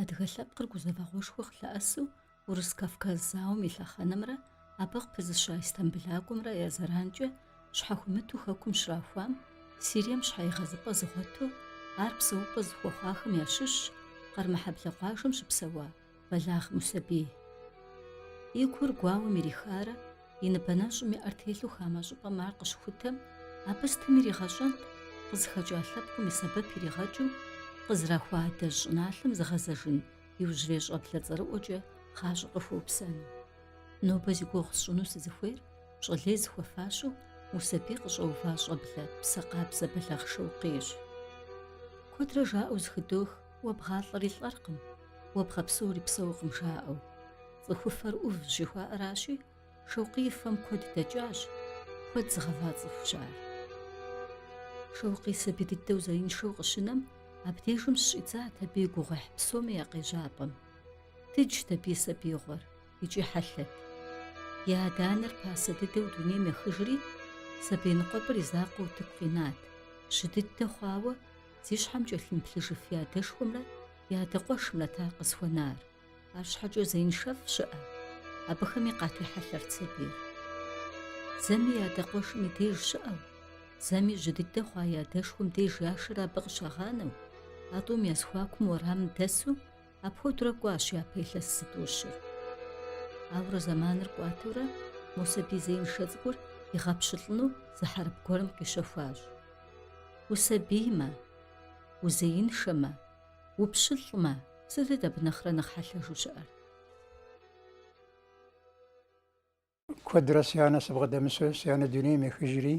Адыгэ лъэпкъыр гузэвэгъуэшхуэ къылъэӏэсу Урыс-Кавказ зауэм и лъэхъэнэмрэ абы къыпызыща Истамбылакӏуэмрэ я зэранкӏэ щхьэхуимыту хэкум щрахуам, Сирием щхьэигъэзыпӏэ зыгъуэту, ар псэупӏэ зыхуэхъуахэм ящыщщ Къэрмэхьэблэ къуажэм щыпсэуа Бэлагъ Мусэбий. И гур гуауэм ирихарэ и ныбэ нэщӏым и ӏэр телъу хамэ щӏыпӏэм ар къыщыхутэм, абы сытым иригъэщӏэнт, къызыхэкӏа лъэпкъым и сэбэп иригъэкӏыу, къызрахуа адэжь щӏыналъэм зыгъэзэжын иужьрей щӏэблэ цӏэрыӏуэкӏэ гъащӏэ къыхуэупсэну. Нобэ зи гугъу сщӏыну сызыхуейр, пщӏэ лей зыхуэфащэу Мусэбий къыщӏэува щӏэблэ псэ къабзэ Бэлагъ Шэукъийщ. Куэдрэ жаӏэу зэхыдох, Уэ бгъалӏэри лӏэркъым, уэ бгъэпсэури псэукъым жаӏэу. Цӏыхуфэр ӏув жыхуаӏэращи, Шэукъий и фэм куэд дэкӏащ, куэд зыгъэва цӏыхущ ар. Шэукъий сабий дыдэу зеиншэу къыщынэм, абдежым щыщӏидзат абы и гугъуехь псоми я къежьапӏэм. Дыджт абы и сабиигъуэр икӏи хьэлъэт. И адэ-анэр пасэ дыдэу дунейм ехыжри, сабий ныкъуэпӏыр и закъуэу утыку къинат, жьы дыдэ хъуауэ, Зи щхьэм кӏэлъымыплъыжыф и адэшхуэмрэ и адэ къуэшымрэт ар къызыхуэнар. Арщхьэкӏэ зеиншэфӏ щыӏэ, абыхэми къатехьэлъэрт сабийр. Зэми и адэ къуэшым и деж щыӏэу, зэми жьы дыдэ хъуа и адэшхуэм деж яшэрэ абы къыщагъанэу, а тӏум я зэхуакум уэрамым дэсу Апхуэдэурэ кӏуащ япэ илъэс зытӏущыр. Ауэрэ зэманыр кӏуатэурэ мо сабий зеиншэ цӏыкӏур игъэпщылӏыну зы хьэрып гуэрым къищэхуащ. Усабиймэ, узеиншэмэ, упщылӏмэ, сытыт абы нэхърэ нэхъ хьэлъэжу щыӏэр? Куэдрэ си анэ сыбгъэдэмысу, си анэ дунейм ехыжри,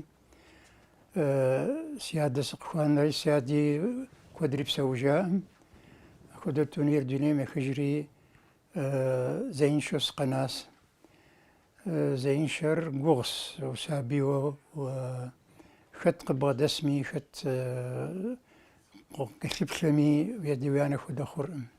си адэ сыкъыхуанэри, си ади куэдрэ псэужаӏым. Апхуэдэу тунейр дунейм ехыжри, зеиншэу сыкъэнащ. Зеиншэр гугъус, усабийуэ хэт къыбгъэдэсми, хэт кӏэлъыплъэми, уи адэ уи анэ хуэдэ хъуркъым.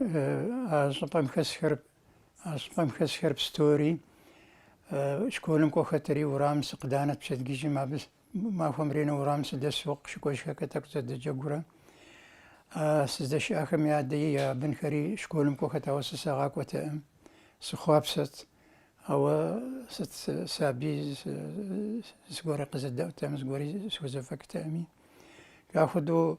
А щӏыпӏэм хэсхэр, а щӏыпӏэм хэсхэр пстори, школым кӏуэхэтэри, урамым сыкъыданэрт пщэдджыжьым, абы махуэм ренэ урамым сыдэсу къыщыкӏуэжхэкӏэ тӏэкӏу зэдэджэгурэ. Сыздэщыӏахэм я адэи я бынхэри школым кӏуэхэт, ауэ сэ сагъакӏуэтэкъым, сыхъуапсэт. Ауэ сыт сабий зыгуэри къызэдэӏуэтэкъым, зыгуэри схузэфӏэкӏтэкъыми. Ахуэдэу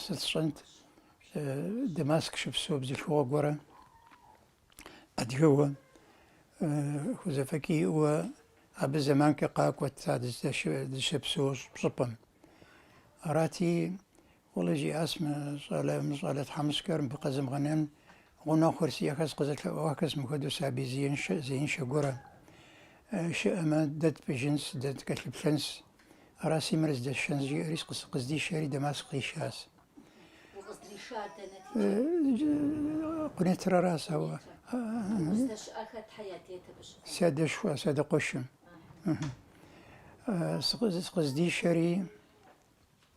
Сыт сщӏэнт Дамаск щыпсэу бзылъхугъэ гуэрэ адыгэуэ хузэфӏэкӏ иӏэуэ абы зэманкӏэ къакӏуэт а дыщыпсэу щӏыпӏэм. Арати, Къулэ жиӏащ мы щӏалэ мы щӏалэ тхьэмыщкӏэр мыбы къэзмыгъэнэн гъунэгъухэр сиӏэхэс къызэлъэӏуахэс мыхуэдэу сабий зеиншэ зеиншэ гуэрэ щыӏэмэ дэ тпӏыжынс, дэ ткӏэлъыплъынс. Араси мыр здэсшэнс жиӏэри сыкъыздишэри Дамаск сыкъишащ. Укъыздришар дэнэ текӏа? Къунетыр аращ, ауэ. Уздэщыӏэр хэтхэ я дейт абы щыгъуэ? Си адэшхуэ, си адэ къуэшым. Сыкъыздишэри.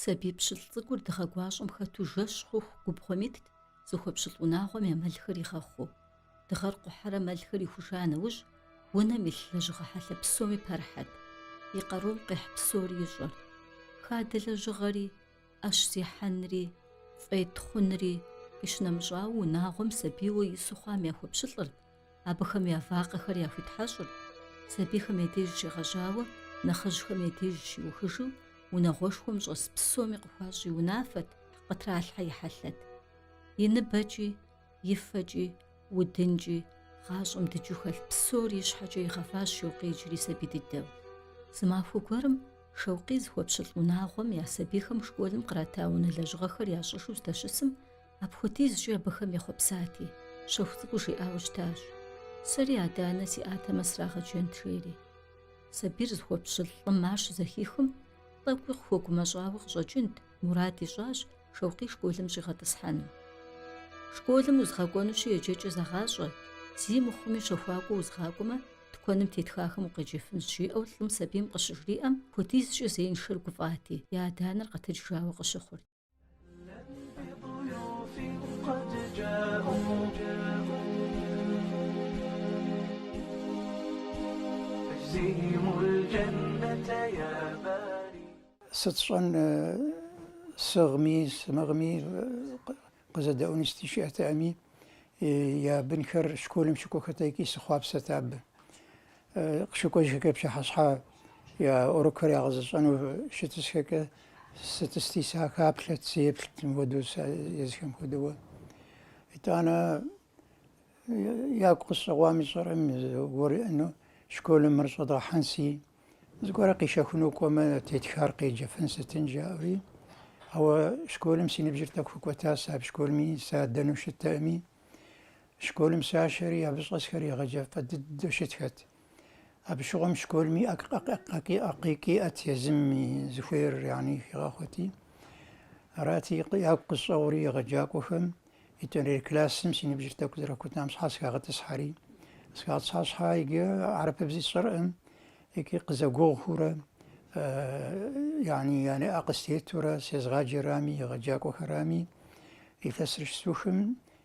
Сабий пщылӏ цӏыкӏур дыгъэгуащӏэм хэту жэщ хъуху губгъуэм итт, зыхуэпщылӏ унагъуэм я мэлхэр игъэхъуу. Дыгъэр къухьэрэ мэлхэр ихуша нэужь, унэм илъ лэжьыгъэ хьэлъэ псоми пэрыхьэт. И къарум къихь псори ищӏэрт. Хадэ лэжьыгъэри, ӏэщ зехьэнри, фӏей тхъунри къищынэмыщӏауэ, унагъуэм сабийуэ ису хъуам яхуэпщылӏырт. Абыхэм я вакъэхэр яхуитхьэщӏырт, сабийхэм я деж щегъэжьауэ, нэхъыжьхэм я деж щиухыжу, унагъуэшхуэм щӏэс псоми къыхуащӏ и унафэт, къытралъхьэ и хьэлъэт. И ныбэкӏи, и фэкӏи, удынкӏи, гъащӏэм дыджу хэлъ псори и щхьэкӏэ игъэващ Шэукъий иджыри сабий дыдэу. Зы махуэ гуэрым Шэукъий зыхуэпщылӏ унагъуэм я сабийхэм школым кърата унэ лэжьыгъэхэр ящӏыжу здэщысым, Апхуэдизкӏэ абыхэм ехъуэпсати, щэху цӏыкӏуу жиӏауэ щытащ, Сэри адэ-анэ сиӏатэмэ срагъэджэнт, жери. Сабийр зыхуэпщылӏ лӏым ар щызэхихым, тӏэкӏуи къыхуэгумэщӏауэ къыщӏэкӏынт, мурад ищӏащ Шэукъий школым щӏигъэтӏысхьэну. Школым узгъэкӏуэнущи еджэкӏэ зэгъащӏэ, зи мыхъуми щэхуакӏуэ узгъакӏуэмэ, тыкуэным тетхахэм укъеджэфынщ, жиӏэу лӏым сабийм къыщыжриӏэм, апхуэдизкӏэ зеиншэр гуфӏати, и адэ-анэр къэтэджыжауэ къыщыхъурт. Сыт сщӏэн, сыгъми, сымыгъми, къызэдэӏуэни сыти щыӏэтэкъыми, я бынхэр школым щыкӏуэхэрт икӏи сыхъуапсэрт абы. Къыщыкӏуэжхэкӏэ пщыхьэщхьэ я урокхэр ягъэзэщӏэну щытысхэкӏэ сытӏысти сахэплъэт, сеплът, мыхуэдэу сэ езхэм хуэдэуэ. Итӏанэ ягу къысщӏэгъуами сщӏэркъым зыгуэрыӏэну школым мыр щӏэдгъэхьэнси, зыгуэрэ къишэхуну кӏуэмэ, тетхар къеджэфын сытын жаӏэри. Ауэ школым си ныбжьыр тӏэкӏу хэкӏуэтащ, сэ а школми садэну щыттэкъыми. Школым сащэри абы щӏэсхэр егъэджэфӏ дыдэу щытхэт. Абы щыгъуэм школым и ӏэ къикӏ иӏэт езым и зыхуейр яни хигъэхъуэти. Арати, ягу къысщӏэгъури егъэджакӏуэхэм етӏуанэрей классым си ныбжьыр тӏэкӏу зэрыхэкӏуэтам щхьа схагъэтӏысхьэри. Схагъэтӏысхьа щхьа иджы арапэбзи сщӏэркъым, икӏи къызэгугъухурэ, яни я нэӏэ къыстетурэ сезыгъаджэрами, егъэджакӏуэхэрами, илъэсыр щысухым,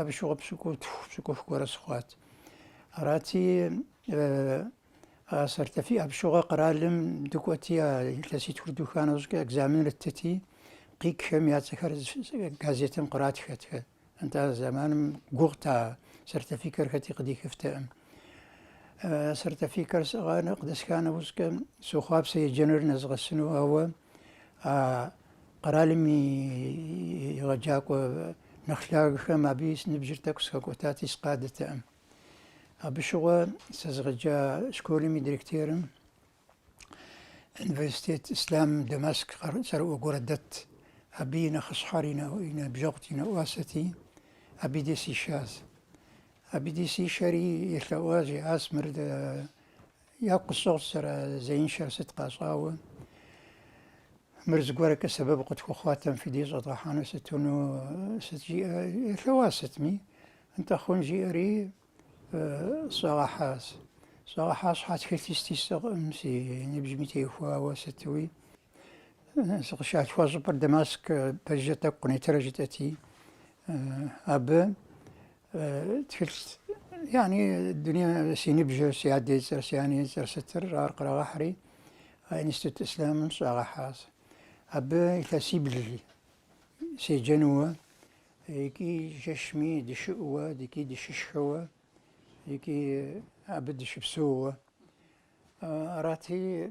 Абы щыгъуэ пщыкӏутху, пщыкӏух гуэрэ сыхъуат. Арати, а сертифи абы щыгъуэ къэралым дыкӏуэти, а илъэситхур духа нэужькӏэ экзаменыр ттыти, къикӏхэм я цӏэхэр газетым къратхэт. Нтӏэ а зэманым гугъут а сертификэр хэти къыдихыфтэкъым. Сертификэр къыдэсха нэужькӏэ сохъуапсэ еджэныр нэзгъэсыну, ауэ А къэралым и егъэджакӏуэ нэхъ лъагэхэм абы си ныбжьыр тӏэкӏу схэкӏуэтати, сыкъадэтэкъым. Абы щыгъуэ сызыгъэджа школым и директорым университет Ислам Дамаск цӏэрыӏуэ гуэрэ дэтт. Абы и нэхъыщхьэр и ныбжьэгъут, и нэӏуасэти, абы дей сишащ. Абы дей сишэри елъэӏуащ, жиӏащ мыр Ягу къысщӏэгъущ сызэрызеиншэр сыт къащӏауэ. Мыр зыгуэркӏэ сэбэп къытхухъуатэм фи деж щӏэдгъэхьэну сытуну сыт жиӏэ елъэуа сытми. Нтӏэ хъун жиӏэри сщӏигъэхьащ. Сщӏигъэхьа щхьа тхылъи сыти сиӏэкъым, си ныбжьми техуауэ сытуи. Сыкъыщалъхуа щӏыпӏэр Дамаск пэжыжьэ тӏэкӏу Къунетӏырэ жытӏэти, абы тхылъ яни дуней си ныбжьыр, си адэ и цӏэр, си анэ и цӏэр сытыр, ар кърагъэхьри, Институт Ислъамым сщӏагъэхьащ. Абы илъэсибл седжэнууэ, икӏи жэщми дыщыӏэуэ, икӏи дыщышхэуэ, икӏи абы дыщыпсэууэ. Арати,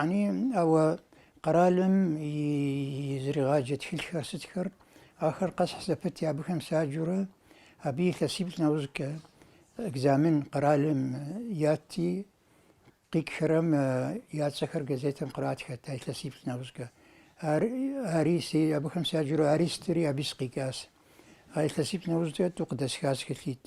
Яни ауэ къэралым изригъаджэ тхылъхэр сытхэр, ахэр къэсхь зэпытти, абыхэм саджурэ, абы илъэсиплӏ нэужькӏэ экзамен къэралым ятти, къикӏхэрэм я цӏэхэр газетым къратхэт а илъэсиплӏ нэужькӏэ. Ар, ари си, абыхэм саджурэ ари стыри, аби сыкъикӏас. А илъэсиплӏ нэужькӏэ тӏу къыдэсхас тхылъитӏ.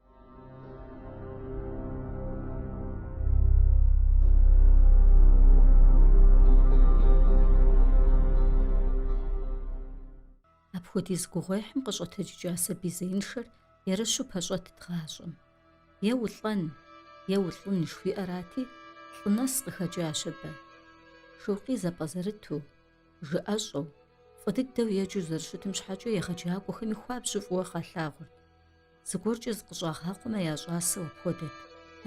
Апхуэдиз гугъуехьым къыщӏэтэджыкӏа сабий зеиншэр ерыщу пэщӏэтт гъащӏэм. Е улӏэн, е улӏын жыхуиӏэрати, лӏы нэс къыхэкӏащ абы. Шэукъий зэпӏэзэрыту, жыӏэщӏэу, фӏы дыдэу еджэу зэрыщытым щхьэкӏэ егъэджакӏуэхэми хуабжьу фӏыуэ къалъагъурт. Зыгуэркӏэ зыкъыщӏагъакъуэмэ, я щӏасэу апхуэдэт.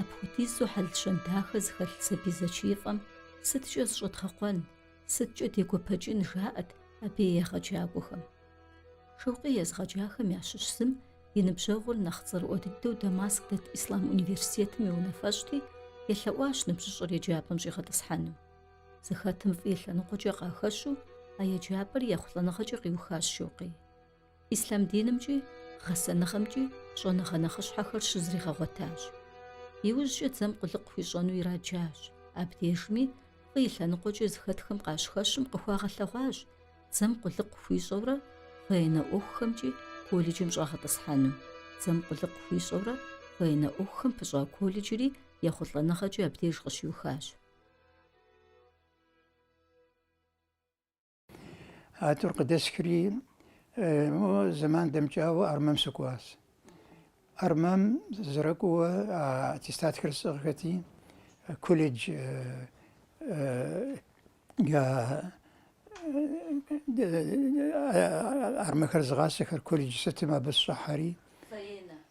Апхуэдизу хьэл-щэн дахэ зыхэлъ сабий зэчиифӏэм сыткӏэ зыщӏэдгъэкъуэн, сыткӏэ дегуэпэкӏын жаӏэт абы и егъэджакӏуэхэм. Шэукъий езыгъэджахэм ящыщ зым и ныбжьэгъур нэхъ цӏэрыӏуэ дыдэу Дамаск дэт Ислъам университетым и унафэщӏти, елъэӏуащ ныбжьыщӏэр еджапӏэм щӏигъэтӏысхьэну. Зыхэтым фӏы и лъэныкъуэкӏэ къахэщу а еджапӏэр ехъулӏэныгъэкӏэ къиухащ Шэукъий. Ислъам динымкӏи гъэсэныгъэмкӏи щӏэныгъэ нэхъыщхьэхэр щызригъэгъуэтащ. Иужькӏэ дзэм къулыкъу хуищӏэну ираджащ. Абдежми фӏы и лъэныкъуэкӏэ зыхэтхэм къащыхэщым къыхуагъэлъэгъуащ дзэм къулыкъу хуищӏэурэ военнэ ӏуэхухэмкӏи колледжым щӏагъэтӏысхьэну. Дзэм къулыкъу хуищӏэурэ военнэ ӏуэхухэм пыщӏа колледжри ехъулӏэныгъэкӏи абдеж къыщиухащ. А тӏур къыдэсхри зэман дэмыкӏауэ армэм сыкӏуащ. Армэм сызэрыкӏуэу аттестатхэр сӏыгъхэти, колледж армэхэр зыгъасэхэр колледж сытым абы сыщӏыхьэри.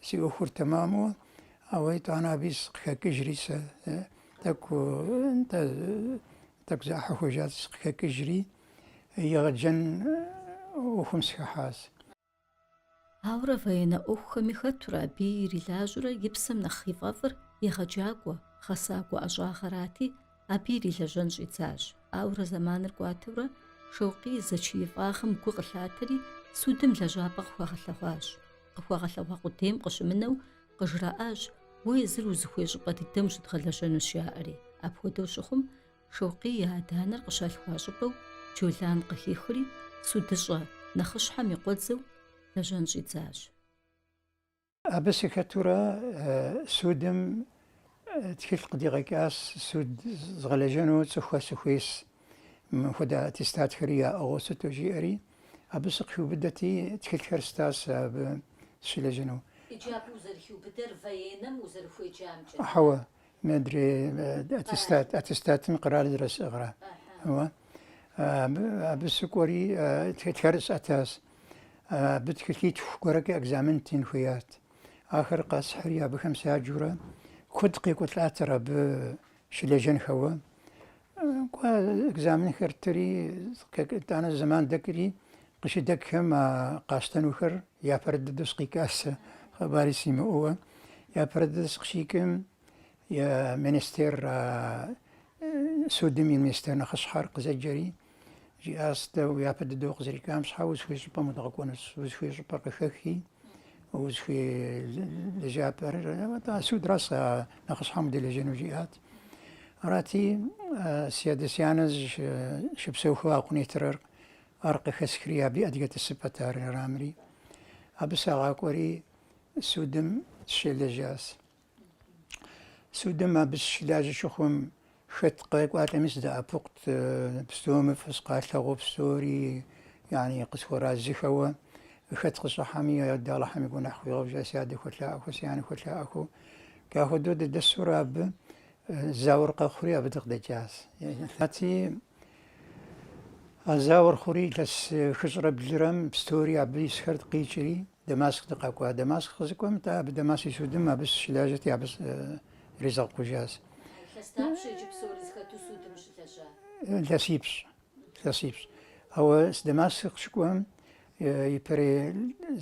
Си ӏуэхур тэмэму, ауэ итӏанэ абы сыкъыхэкӏыжри сэ, э, тӏэкӏу, нтӏэ, тӏэкӏу зэӏыхьэ хъужат сыкъыхэкӏыжри, егъэджэн ӏуэхум сыхыхьащ. Ауэрэ военнэ ӏуэхухэми хэтурэ абы ирилажьэурэ и псэм нэхъ ифӏэфӏыр егъэджакӏуэ, гъэсакӏуэ ӏэщӏагъэрати, Абы ирилэжьэн щӏидзащ, ауэрэ зэманыр кӏуатэурэ Шэукъий и зэчиифӏагъэм гу къылъатэри, судым лэжьапӏэ къыхуагъэлъэгъуащ. Къыхуагъэлъэгъуа къудейм къыщымынэу къыжраӏащ, Уэ езыр узыхуей щӏыпӏэ дыдэм ущыдгъэлэжьэнущ, жаӏэри. Апхуэдэу щыхъум, Шэукъий и адэ-анэр къыщалъхуа щӏыпӏэу Джолан къыхихри, судыщӏэ нэхъыщхьэм и къуэдзэу, лэжьэн щӏидзащ. Абы сыхэтурэ судым тхылъ къыдигъэкӏащ, суд згъэлэжьэну цӏыхухэ сыхуейщ, мыпхуэдэ хуэдэ аттестатхэри яӏыгъыу сыту жиӏэри, абы сыкъхиубыдэти, тхылъхэр стащ абы сыщылэжьэну. Иджы абы узэрыхиубыдэр военным узэрыхуеджамкӏэ? Хьэуэ, Мыдрей аттестат, аттестатым къэрал зэрысӏыгъра. Уэ абы сыкӏуэри тхэр сӏэтащ. Абы тхылъитху гуэркӏэ экзамен тын хуеят. Ахэр къэсхьри абыхэм седжурэ куэд къекӏуэлӏатэрэ абы щылэжьэнхэуэ. Кӏуэ экзаменхэр ттри, итӏанэ зэман дэкӏри, къыщыдэкӏхэм а къащтэнухэр япэрыт дыдэу сыкъикӏащ, хъыбари симыӏэуэ. Япэрыт дыдэу сыкъыщикӏым, я министер, а судым и министер нэхъыщхьэр къызэджэри, жиӏащ, дэ япэ дыдэу укъызэрикӏам щхьэ узыхуей щӏыпӏэм удгъэкӏуэнущ, узыхуей щӏыпӏэр къыхэхи, узыхуей лэжьапӏэр, атӏэ а судыращ а нэхъыщхьэм удэлэжьэну, жиӏат. Арати, си адэ-си анэ зыщыпсэухэу а Къунейтрэр ар къыхэсхри, абы адыгэ тӏысыпӏэт ар ирамри. Абы сагъакӏуэри судым сыщылэжьащ. Судым абы сыщылажьэ щыхъум, хэт къекӏуалӏэми сыдэӏэпыкъут, псоми фӏы сыкъалъагъуу псори, яни къысхуэразыхэуэ, хэт къыщӏыхьэми, Алыхьым и гуэныхь хуигъэгъуа, си адэ хуэлъаӏуэхэу, си анэ хуэлъаӏуэхэу, Ахуэдэу дыдэсурэ абы зауэр къэхъури абы дыкъыдэкӏащ. Арати а зауэр хъури илъэс хыщӏрэ блырэм пстори абы исхэрт къикӏри Дамаск дыкъэкӏуа. Дамаск сыкъызыкӏуэм тӏэ абы Дамаск и судым абы сыщылажьэти абы иризгъэкъужащ. Илъэс дапщэ иджы псори зыхэту судым ущылэжьар? Илъэсипщӏ. Илъэсипщӏ. Ауэ сэ Дамаск сыкъыщыкӏуэм ипэрей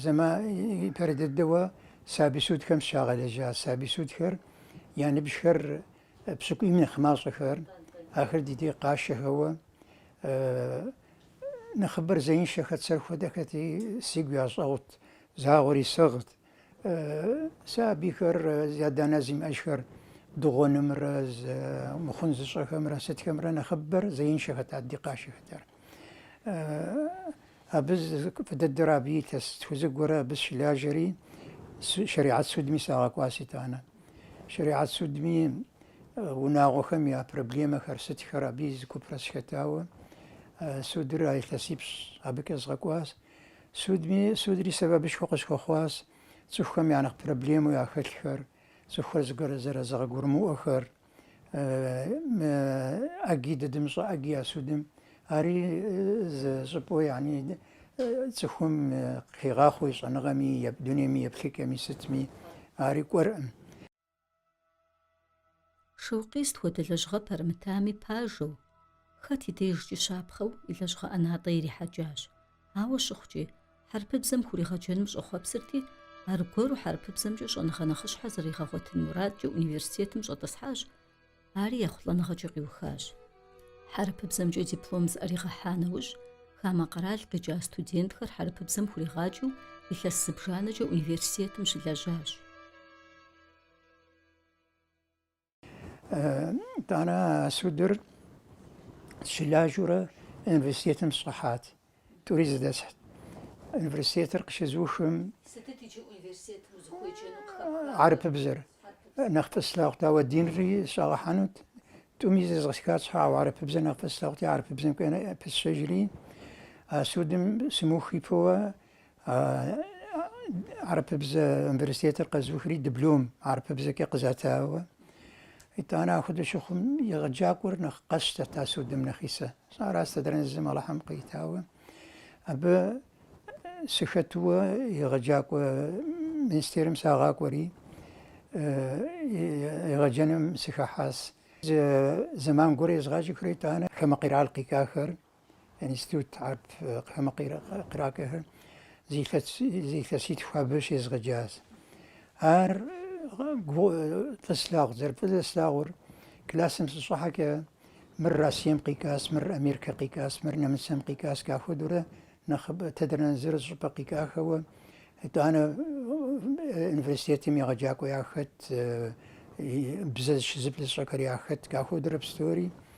зэман, ипэрей дыдэуэ сабий судхэм сыщагъэлэжьа сабий судхэр я ныбжьхэр пщыкӏуийм нэхъ мащӏэхэр, ахэр ди деж къашэхэуэ, нэхъыбэр зеиншэхэт, сэр хуэдэхэти, сигу ящӏэгъут, загъуэри сыгът. Сэ абыхэр зи адэ-анэ зимыӏэжхэр дыгъуэнымрэ мыхъун зыщӏэхэмрэ сытхэмрэ нэхъыбэр зеиншэхэта ди къашэхэтар. Абы фӏы дыдэрэ абы илъэситху зыгуэрэ абы сыщылажьэри шэрихьэт судми сагъэкӏуащ итӏанэ. Шэрихьэт судми унагъуэхэм я проблемэхэр сытхэр абы и зы купрэ сыхэтауэ судыр а илъэсипщӏ абы къэзгъэкӏуащ. Судми, судри сэбэпышхуэ къысхуэхъуащ цӏыхухэм я нэхъ проблемэу яхэлъхэр, цӏыхухэр зыгуэрэ зэрызэгъэгурымыӏуэхэр, мы ӏэгий дыдым щӏэ ӏэгий я судым, ари зы щӏыпӏэу яни цӏыхум хигъахъуэ и щӏэныгъэми, дунейми, еплъыкӏэми, сытми, ари кӏуэркъым. Шэукъий сыт хуэдэ лэжьыгъэ пэрымытами пажэу, хэт и дежкӏи щапхъэу и лэжьыгъэ ӏэнатӏэ ирихьэкӏащ. Ауэ щыхъукӏи, хьэрыпыбзэм хуригъэджэным щӏэхъуэпсырти, аргуэру хьэрыпыбзэмкӏэ щӏэныгъэ нэхъыщхьэ зэригъэгъуэтын мурадкӏэ университетым щӏэтӏысхьащ, Ари ехъулӏэныгъэкӏэ къиухащ. Хьэрыпыбзэмкӏэ диплом зыӏэригъэхьа нэужь, хамэ къэрал къикӏа студентхэр хьэрыпыбзэм хуригъаджэу илъэс зыбжанэкӏэ университетым щылэжьащ. Итӏанэ а судым сыщылажьэурэ университетым сщӏыхьат. Тӏури зэдэсхьт, университетыр къыщызухым. Сытыт иджы университетым узыхуеджэну къыхэпхар? Хьэрыпыбзэр нэхъ фӏы слъагъут, ауэ динри сыщӏагъэхьэнут. Тӏуми зезгъэтхат щхьэ, ауэ хьэрыпыбзэр нэхъ фӏы слъагъути, хьэрыпыбзэм кӏуэну пысщэжри, а судым сымыухыпэуэ, Арапыбзэ университетыр къэзухри диплом арапыбзэкӏэ къызатауэ. Итӏанэ ахуэдэ щыхъум егъэджакӏуэр нэхъ къэсщтэт а судым нэхъисэ. Сара садранэзым Алыхьым къитауэ. Абы сыхэтуэ егъэджакӏуэ министерым сагъакӏуэри, егъэджэным сыхэхьас. Зэман гуэр езгъаджэхэурэ итӏанэ Хамэ къирал къикӏахэр Институт Арп хамэ къирал къикӏахэр зы илъэситху абы щезгъэджащ. Ар фӏы слъагъу, зэрыфӏы зэслъагъур классым сыщӏыхьэкӏэ мыр Россием къикӏащ, мыр Америкэ къикӏащ, мыр Нэмыцэм къикӏащ, ахуэдэурэ нэхъыбэ тедэрнэ зыр зы щӏыпӏэ къикӏахэуэ, итӏанэ университетым егъэджакӏуэ яхэт, бзэ зыщыплӏ зыщӏэхэр яхэт, ахуэдэурэ псори.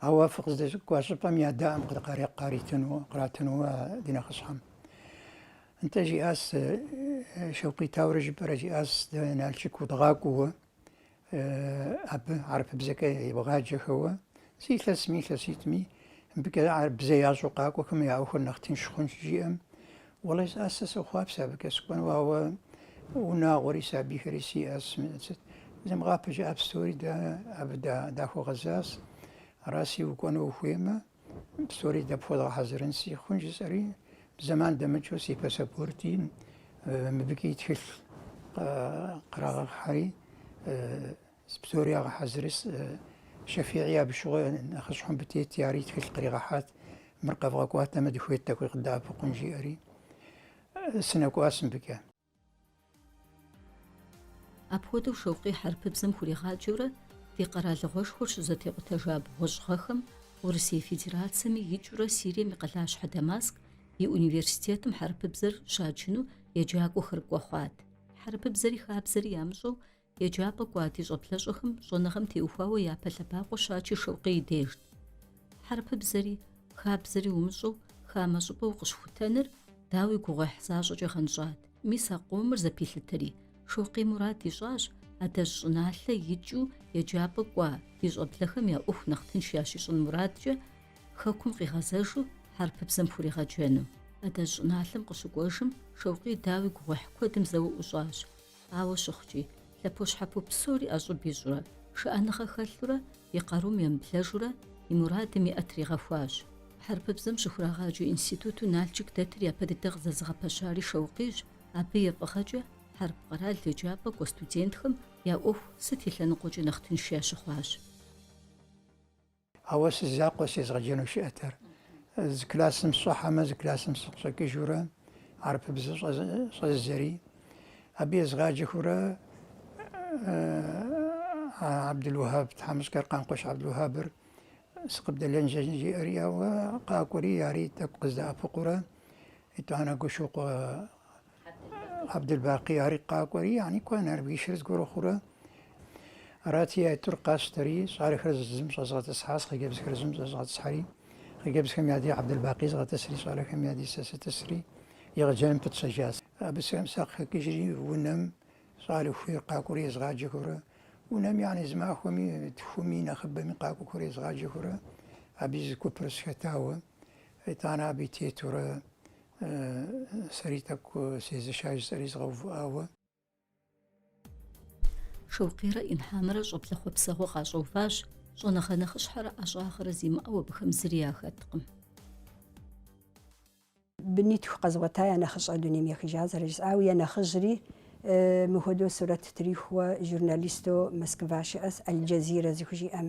Ауэ фыкъыздэкӏуа щӏыпӏэм я дэӏэм къыдыкъарекъу къаритыну, къратыну ди нэхъыщхьэм. Нтӏэ жиӏащ, Шэукъий, тауэрэ жыпӏэрэ жиӏащ, дэ Налшык удгъакӏуэуэ, абы арпыбзэкӏэ ебгъаджэхэуэ, зы илъэсми илъэситӏми, мыбыкӏэ арпыбзэ ящӏэу къакӏуэхэм я ӏуэхур нэхъ тынш хъун щыжиӏэм, Уэлэхьи, сэ сэ сохъуапсэ абыкӏэ сыкӏуэну, ауэ унагъуэри сабийхэри сиӏэщ. Сыт? Зымыгъапэ жыӏэ псори дэ абы дахуэгъэзащ. Араси укӏуэну ухуеймэ, псори дэ пхуэдгъэхьэзырынси, хъун жысӏэри, зэман дэмыкӏыу си пассапорти мыбыкӏи тхылъ кърагъэхьри, Зы псори ягъэхьэзырри, Шэфигъи абы щыгъуэ нэхъыщхьэу мыбы тети, ари и тхылъ къригъэхьат, мыр къэвгъэкӏуатэмэ, дыхуейт тӏэкӏуи къыдэӏэпыкъун, жиӏэри. Сынэкӏуащ мыбыкӏэ. Апхуэдэу Шэукъий хьэрыпыбзэм хуригъаджэурэ ди къэралыгъуэшхуэр щызэтекъутэжа бгъуэщӏ гъэхэм Урысей Федерацэми икӏыурэ Сирием и къалащхьэ Дамаск и университетым хьэрыпыбзэр щаджыну еджакӏуэхэр кӏуэ хъуат. Хьэрыпыбзэри хабзэри ямыщӏэу Еджапӏэ кӏуа ди щӏэблэщӏэхэм щӏэныгъэм теухуауэ япэ лъэбакъуэ щачыр Шэукъий дежт. Хьэрыпыбзэри, хабзэри умыщӏэу, хамэ щӏыпӏэ укъыщыхутэныр, дауи, гугъуехь защӏэкӏэ гъэнщӏат. Мис а къомыр зэпилъытри, Шэукъий мурад ищӏащ, адэжь щӏыналъэ икӏыу еджапӏэ кӏуа ди щӏэблэхэм я ӏуэху нэхъ тынш ящищӏын мурадкӏэ, Хэкум къигъэзэжу хьэрыпыбзэм хуригъэджэну. Адэжь щӏыналъэм къыщыкӏуэжым, Шэукъий, дауи, гугъуехь куэдым зэуэ ӏущӏащ. Ауэ щыхъукӏи, лъэпощхьэпо псори ӏэщӏыб ищӏурэ, шыӏэныгъэ хэлъурэ, и къарум емыблэжурэ, и мурадым и ӏэ тригъэхуащ. Хьэрыпыбзэм щыхурагъаджэ институту Налшык дэтыр япэ дыдэ къызэзыгъэпэщари Шэукъийщ, абы и фӏыгъэкӏэ хьэрып къэрал еджапӏэ кӏуа студентхэм я ӏуэху сыт и лъэныкъуэкӏэ нэхъ тынш ящыхъуащ. Ауэ си закъуэс езыгъэджэну щыӏэтэр. Зы классым сщӏыхьэмэ, зы классым сыкъыщӏэкӏыжурэ, арапыбзэ щӏэзэри. Абы езгъаджэхурэ Абдулуэхьэб, тхьэмыщкӏэр Къанкъуэщ Абдулуэхьэбыр сыкъыбдэлэн жиӏэри, ээ къакӏуэри, ари тӏэкӏу къыздэӏэпыкъуурэ, итӏанэ Гуэщокъуэ Абдельбакъи ари къакӏуэри, яни куэ Нарбишыр зыгуэру хъурэ? Арати, я тӏур къащтэри, щӏалэхэр зым щӏэзгъэтӏысхьащ, хъыджэбзхэр зым щӏэзгъэтӏысхьэри, хъыджэбзхэм я ди Абдельбакъи згъэтӏысри, щӏалэхэм я ди сэ сытӏысри, егъэджэным пытщэжащ. Абы сэм сакъыхэкӏыжри, унэм щӏалэ хуейр къакӏуэри езгъаджэхурэ, унэм, яни зы махуэми, тхуми, нэхъыбэми къакӏуэхэр езгъаджэхурэ, абы и зы купыр схэтауэ. итӏанэ абы и тетурэ сэри тӏэкӏу сезэшащ жысӏэри згъэувыӏауэ. Шэукъийрэ Инхьамрэ щӏэблэ хъуэпсэгъуэ къащӏэуващ, щӏэныгъэ нэхъыщхьэрэ ӏэщӏагъэрэ зимыӏэу абыхэм зыри яхэткъым. Бынитху къэзгъуэта я нэхъыщӏэр дунейм ехыжа зэрыжысӏауэ, я нэхъыжьри мыхуэдэу сурэт трихуэ журналистэу Москва щыӏэс Аль-Джазирэ зыхужиӏэм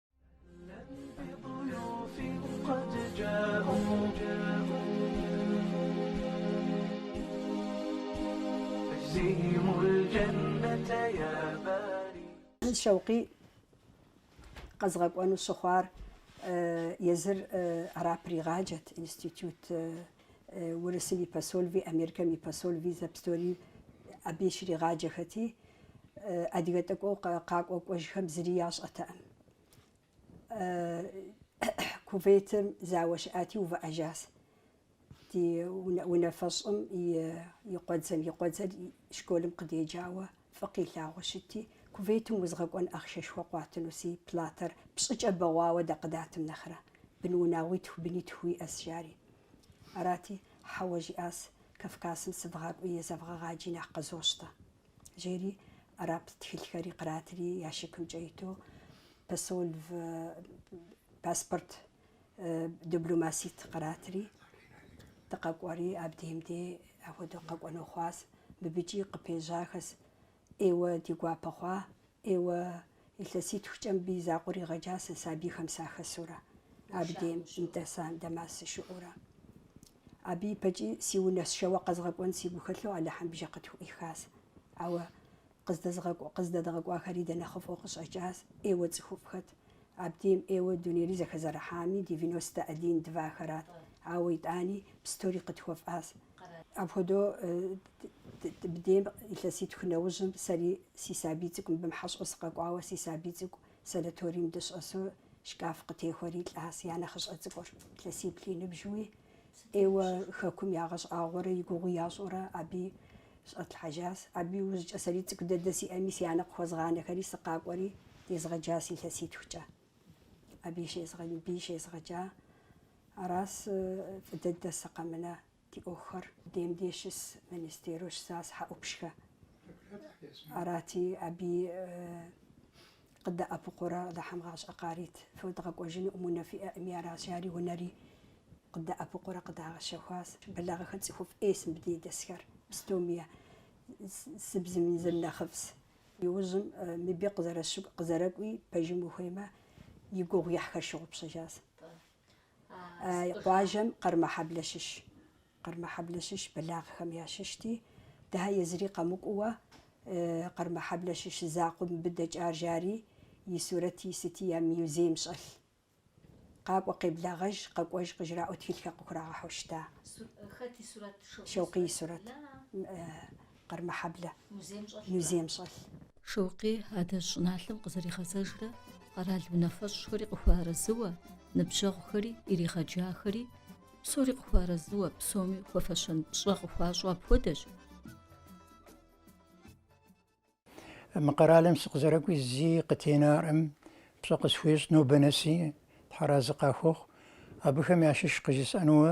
Шэукъий къэзгъэкӏуэну щыхъуар езыр арап иригъаджэт институт Урысым и посольви, Америкэм и посольви, зэпстори абы ищригъаджэхэти, адыгэ тӏэкӏуу къакӏуэ кӏуэжхэм зыри ящӏэтэкъым. Кувейтым зауэ щыӏати, увыӏэжащ. Ди унафэщӏым и къуэдзэм, и къуэдзэр школым къыдеджауэ. Фӏы къилъагъуу щытти, кувейтым узгъэкӏуэн ахъшэшхуэ къуатынуси, платэр пщӏыкӏэ бэгъуауэ дэ къыдатым нэхърэ, бын унагъуитху бынитху уиӏэс, жари. Арати, хьэуэ жиӏащ, Кавказым сывгъакӏуи езэвгъэгъаджи нэхъ къызощтэ. Жери, арап тхылъхэри къратри ящикымкӏэ иту, посольв, паспорт, Дибломаситӏ къратри, дыкъэкӏуэри, абдеем де ахуэдэу къэкӏуэну хъуащ. Мыбыкӏи къыпежьахэс, ӏейуэ ди гуапэ хъуа, ӏейуэ илъэситхукӏэ мыбы и закъуэ ригъэджа сэ сабийхэм сахэсурэ, абдеем дэса Дамас сыщыӏэурэ. Абы ипэкӏи си унэ сшэуэ къэзгъэкӏуэн сигу хэлъу Алыхьым бжэ къытхуӏуихащ. Ауэ Къыздэдгъэкӏуахэри дэ нэхъыфӏу къыщӏэкӏащ, ӏейуэ цӏыхуфӏхэт. Абдейм ӏейуэ дунейри зэхэзэрыхьами, девяностэ один двахэрат. Ауэ итӏани, пстори къытхуэфӏащ. Апхуэдэу абдейм илъэситху нэужьым, сэри си сабий цӏыкӏу мыбы хьэщӏэу сыкъэкӏуауэ, си сабий цӏыкӏу санаторийм дыщӏэсу, шкаф къытехуэри лӏащ я нэхъыщӏэ цӏыкӏур. Илъэсиплӏ и ныбжьу, ӏейуэ хэкум ягъэщӏагъуэрэ и гугъу ящӏурэ, абы и Щӏэтлъхьэжащ. Абы иужькӏэ сэри цӏыкӏу дэдэ сиӏэми, си анэ къыхуэзгъанэхэри сыкъакӏуэри, дезгъэджащ илъэситхукӏэ. Абыи мыбыи щезгъэджа. Аращ фӏы дыдэс къэмынэу ди ӏуэхухэр. Дем дей щыс министеру щысас Хьэӏупщхэ. Арати, абыи Къыдэӏэпыкъуурэ Алыхьым гъащӏэ къарит, фыдгъэкӏуэжынукъым, унэ фиӏэкъыми аращ, жари унэри. Къыдэӏэпыкъуурэ къыдагъэщэхуащ. Бэлагъыхэ цӏыхуфӏ ӏейс мыбы де дэсхэр, пстоми я зыбзым зыр нэхъыфӏс. Иужьым мыбы къызэрэкӏуи пэжым ухуеймэ, и гугъуехьхэр щыгъупщэжащ. А къуажэм Къэрмэхьэблэ щыщ. Къэрмэхьэблэ щыщ Бэлагъыхэм ящыщти, дыхьэ езыри къэмыкӏууэ, Къэрмэхьэблэ щыщ закъуэ мыбы дэкӏар жари, и сурэти, и сыти я мюзейм щӏэлъ. Къакӏуэ къеблагъэж, къэкӏуэж къыжраӏуэ тхылъхэр къыхурагъэхьу щыта. Хэт и сурэт? Шэукъий и сурэт. Къэрмэхьэблэ музейм щӏэлъ. Шэукъий адэжь щӏыналъэм къызэригъэзэжрэ къэрал унафэщӏхэри къыхуэарэзыуэ, ныбжьэгъухэри иригъэджахэри, псори къыхуарэзыуэ, псоми хуэфэщэн пщӏэ къыхуащӏу апхуэдэщ. Мы къэралым сыкъызэрэкӏуи зи къытенаӏым, пщӏэ къысхуещӏ нобэ нэси, тхьэразы къахуэхъу. Абыхэм ящыщ къыжысӏэнууэ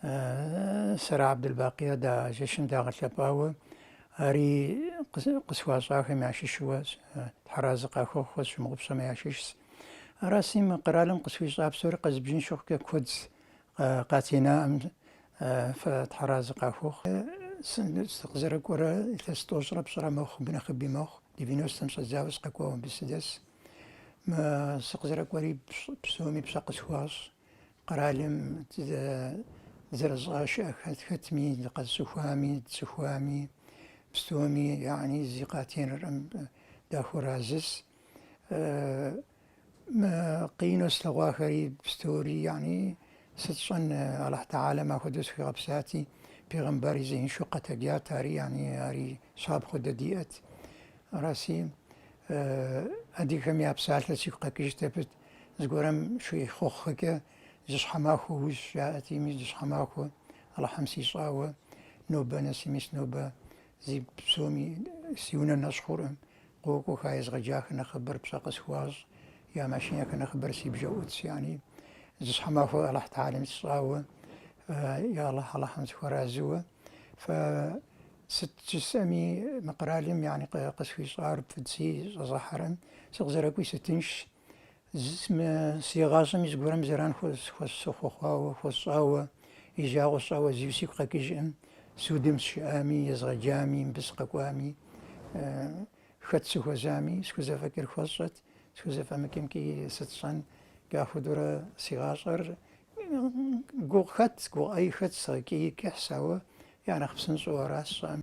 Сэрэ Абдулбакъия да жэщым дагъэлъэпӏауэ ари къысхуащӏахэм ящыщуэ тхьэразы къахухъухэ сщымыгъупщэм ящыщс. Араси мы къэралым къысхуищӏа псори къэзыбжын щыхъукӏэ куэдс къатенаӏым фэ тхьэразы къахухъу. Сыкъызэрыкӏуэрэ илъэс тӏощӏрэ пщӏырэ мэхъу, абы нэхъыби мэхъу, девяностэм щӏэдзауэ сыкъэкӏуауэ абы сыдэс. Мы сыкъызэрыкӏуэри псоми пщӏэ къысхуащӏ. Къэралым зэрыщӏашэ хэт хэтми, къэсцӏыхуами, сцӏыхуами, пстоми яни зи къатеныркъым дахуэразыс. Къину слъэгъуахэри пстори яни сыт щӏэн Аллахь Тахьалэ мыхуэдэу схуигъэпсати, пегъымбарри зеиншэу къэтэджат ари яни ари щапхъэу дэ диӏэт. Араси адыгэхэм я псалъэ сигу къэкӏыжт абы Зыгуэрым щехъуэхъукӏэ зы щхьэмахуэ уищӏ жаӏэти, мис зы щхьэмахуэ Алыхьым сищӏауэ нобэ нэс, мис нобэ зи псоми си унэ нэщӏ хъуркъым. Къокӏуэхэ езгъэджахэр нэхъыбэр пщӏэ къысхуащӏ, я машинэхэр нэхъыбэр си бжэ ӏутс яни. Зы щхьэмахуэ Алыхь Тахьалэм сищӏауэ, я Алыхь, Алыхьым сыхуэразыуэ. Фэ Сыт жысӏэми, мы къэралым яни къысхуищӏар пыдзи щӏэзыхьэрэм сыкъызэрэкӏуи сытыншщ. Мы си гъащӏэми зыгуэрым зэран хуэ сыхуэхъуауэ, хуэсщӏауэ, и жагъуэ сщӏауэ зи сигу къэкӏыжкъым, судым сщыӏами, езгъэджами, мыбы сыкъэкӏуами. Хэт сыхуэзами, схузэфӏэкӏыр хуэсщӏэт, схузэфӏэмыкӏымкӏи сыт сщӏэн? Апхуэдэурэ си гъащӏэр гугъу хэт, гугъуехь хэт, икӏи кӏыхьщ, ауэ я нэхъ псынщӏэу аращ сщӏэӏым.